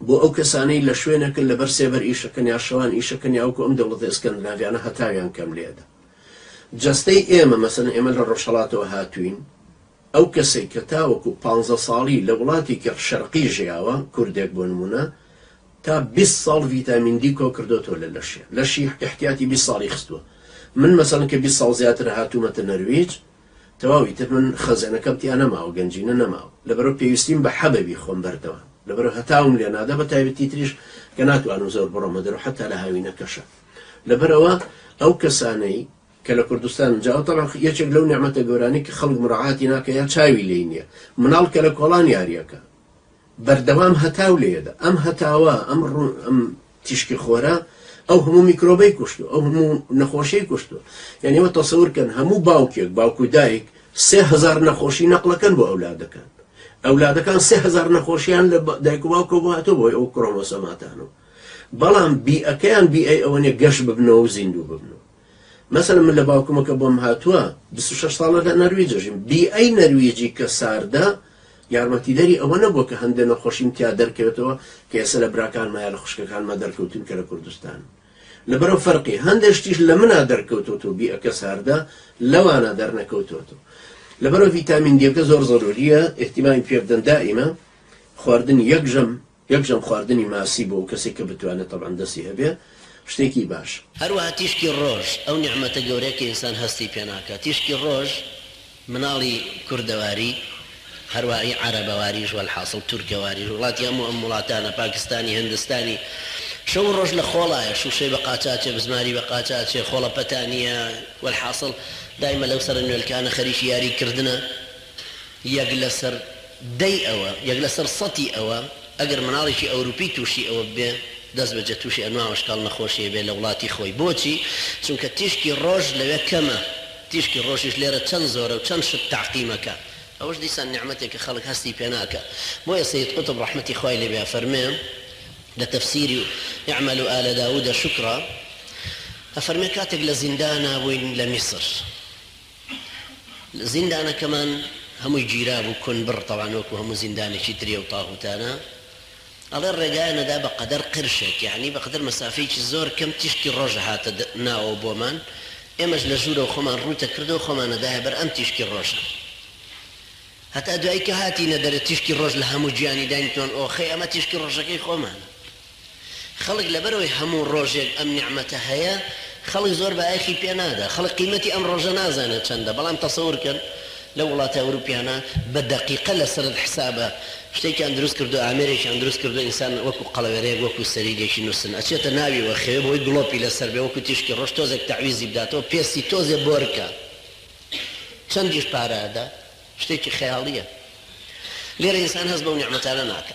بۆ ئەو کەسانەی لە شوێنەکن لەبەر سێبەر ئیشەکەن یا شەوان ئیشەکەن یا وەکو ئەم دەوڵەتە ئێسکەندناڤیانە هەتاویان کەم لێدە جەستەی ئێمە مەسەن ئێمە لە ڕۆژهەڵاتەوە هاتوین ئەو کەسێک کە تاوەکو پ ساڵی لە وڵاتێکی شەرقی ژیاوە کوردێک بۆ نمونە تا 20 ساڵ ڤیتامین دی کۆ کردوەوە لە لەشێ لەشی احتیاتی 20 ساڵی خستووە من مەسەن کە 20 ساڵ زیاتر هاتوومەتە نەرویج تەواو ئیتر من خەزێنەکەم تیا نەماوە گەنجینە نەماوە لەبەرەو پێویستیم بە حەبە بی خۆم بەردەوام لەبەرەو هەتاوم لێ نادا بە تایبەتی تریش کە ناتوانم زۆر بڕۆمە دەرو حتا لە هاوینەکەشە لەبەرەوە ئەو کەسانەی کە لە کوردستان جاو طبعا یەکێک لەو نیعمەتە گەورانی کە خەڵک مراعاتی ناکە یا چاوی لێی نیە مناڵ کە لە کۆڵان یاریەکە بەردەوام هەتاو لێیەدا، ئەم هەتاوە، ئەم ئەم تیشکی خۆرە ئەو هەموو میکرۆبەی کوشتووە، ئەو هەموو نەخۆشیی کوشتووە. یانی ئێوە تەسەور بکەن، هەموو باوکێک، باوک و دایک سێ هەزار نەخۆشی نەقڵەکەن بۆ ئەولادەکان. ئەولادەکان سێ هەزار نەخۆشییان لە دایک و باوکەوە بۆ هاتووە بۆ ئەو کرۆمۆسۆماتانەوە. بەڵام بیئەکەیان بیئەی ئەوە نییە گەش ببنەوە و زیندوو ببن. مەسەلەن من لە باوکمە کە بۆم هاتووە بیست و شەش ساڵە لە نەرویجە ژیم بیئەی نەرویجی کە ساردە یارمەتیدەری ئەوە نەبووە کە هەندێ نەخۆشیم تیا دەرکەوێتەوە کە ئێسە لە براکانمە یا لە خوشکەکانمە دەرکەوتوون کە لە کوردستان لەبەرەو فەرقی هەندێ شتیش لە منا دەرکەوتوت و بیئەکە ساردە لەوانە دەرنەکەوتوت و لەبەرەو ڤیتامین دیەکە زۆر زەروریە ئیهتیمامی پێبدەن دائیمە خواردنی یەک ژەم یەکجار خواردنی ماسی بۆ کەسێک کە بتوانێت تەبعەن دەستی هەبێ شتێکی باشە. هەروەها تیشکی ڕۆژ ئەو نیعمەتە گەورەیە کە ئینسان هەستی پێ ناکات. تیشکی ڕۆژ مناڵی کوردەواری، هەروەعی عەرەبەواریش وەلحاسڵ تورکەواریش، وڵاتی هەموو ئەم وڵاتانە، پاکستانی، هندستانی، شەو و ڕۆژ لە خۆڵایە، شووشەی بە قاچ ئاچێ، بزماری بە قاچ ئاچێ، خۆڵە پەتانییە، وەلحاسڵ دایمە لەو سەرە نوێلکانە خەریکی یاری کردنە. یەک لەسەر دەی ئەوە، یەک لەسەر سەتی ئەوە، ئەگەر مناڵێکی ئەوروپی تووشی ئەوە ببێ، دەست بەجێ تووشی ئەنواع و ئەشکاڵ نەخۆشی ئەبێ لە وڵاتی خۆی. بۆچی؟ چونکە تیشکی ڕۆژ لەوێ کەمە. تیشکی ڕۆژیش لێرە چەند زۆرە و چەند شت تەعقیم ئەکا. ئەوەش دیسان نیعمەتێکە خەڵک هەستی پێ ناکا. بۆیە سەید قوتب ڕەحمەتی خوای لێ بێ ئەفەرمێ لە تەفسیری، اعملوا آل داوود شکرا، ئەفەرمێ کاتێک لە زیندانا بووین لە میسر، زیندانەکەمان هەمووی گیرابوو کون بڕ تەوان وەکو هەموو زیندانێکی تری ئەو تاغوتانە ئەڵێ ڕێگایان ئەدا بە قەدەر قرشێک یەعنی بە قەدەر مەسافەیەکی زۆر کەم تیشکی ڕۆژ ئەهاتە ناوەوە بۆمان ئێمەش لە ژوورەوە خۆمان ڕووت ئەکرد و خۆمان ئەدایە بەر ئەم تیشکی ڕۆژە هەتا دوایی کە هاتینە دەرێ تیشکی ڕۆژ لە هەموو گیانی داینتمان ئۆخەی ئەمە تیشکی ڕۆژەکەی خۆمانە. خەڵک لەبەرئەوەی هەموو ڕۆژێک ئەم نیعمەتە هەیە خەڵک زۆر بایەخی پێ نادا خەڵک قیمەتی ئەم ڕۆژە نازانێت چەندە بەڵام تەسەور کەن لەو وڵاتە ئەوروپیانە بە دەقیقە لە سەرت حسابە شتێکیان دروست کردوە ئامێرێکیان دروست کردوە ئینسان وەکو قەڵەوێرەیەک وەکو سەریدێکی نوستن ئەچێتە ناوی و ئەخەوێ بۆی گڵۆپی لەسەر بێ وەکو تیشکی ڕۆژ تۆزێک تەعویزی بداتەوە پێستی تۆزێ بۆرکە چەندیش پارە ئەدا شتێکی خەیاڵیە لێرە ئینسان هەست بەو نیعمەتانە ناکا.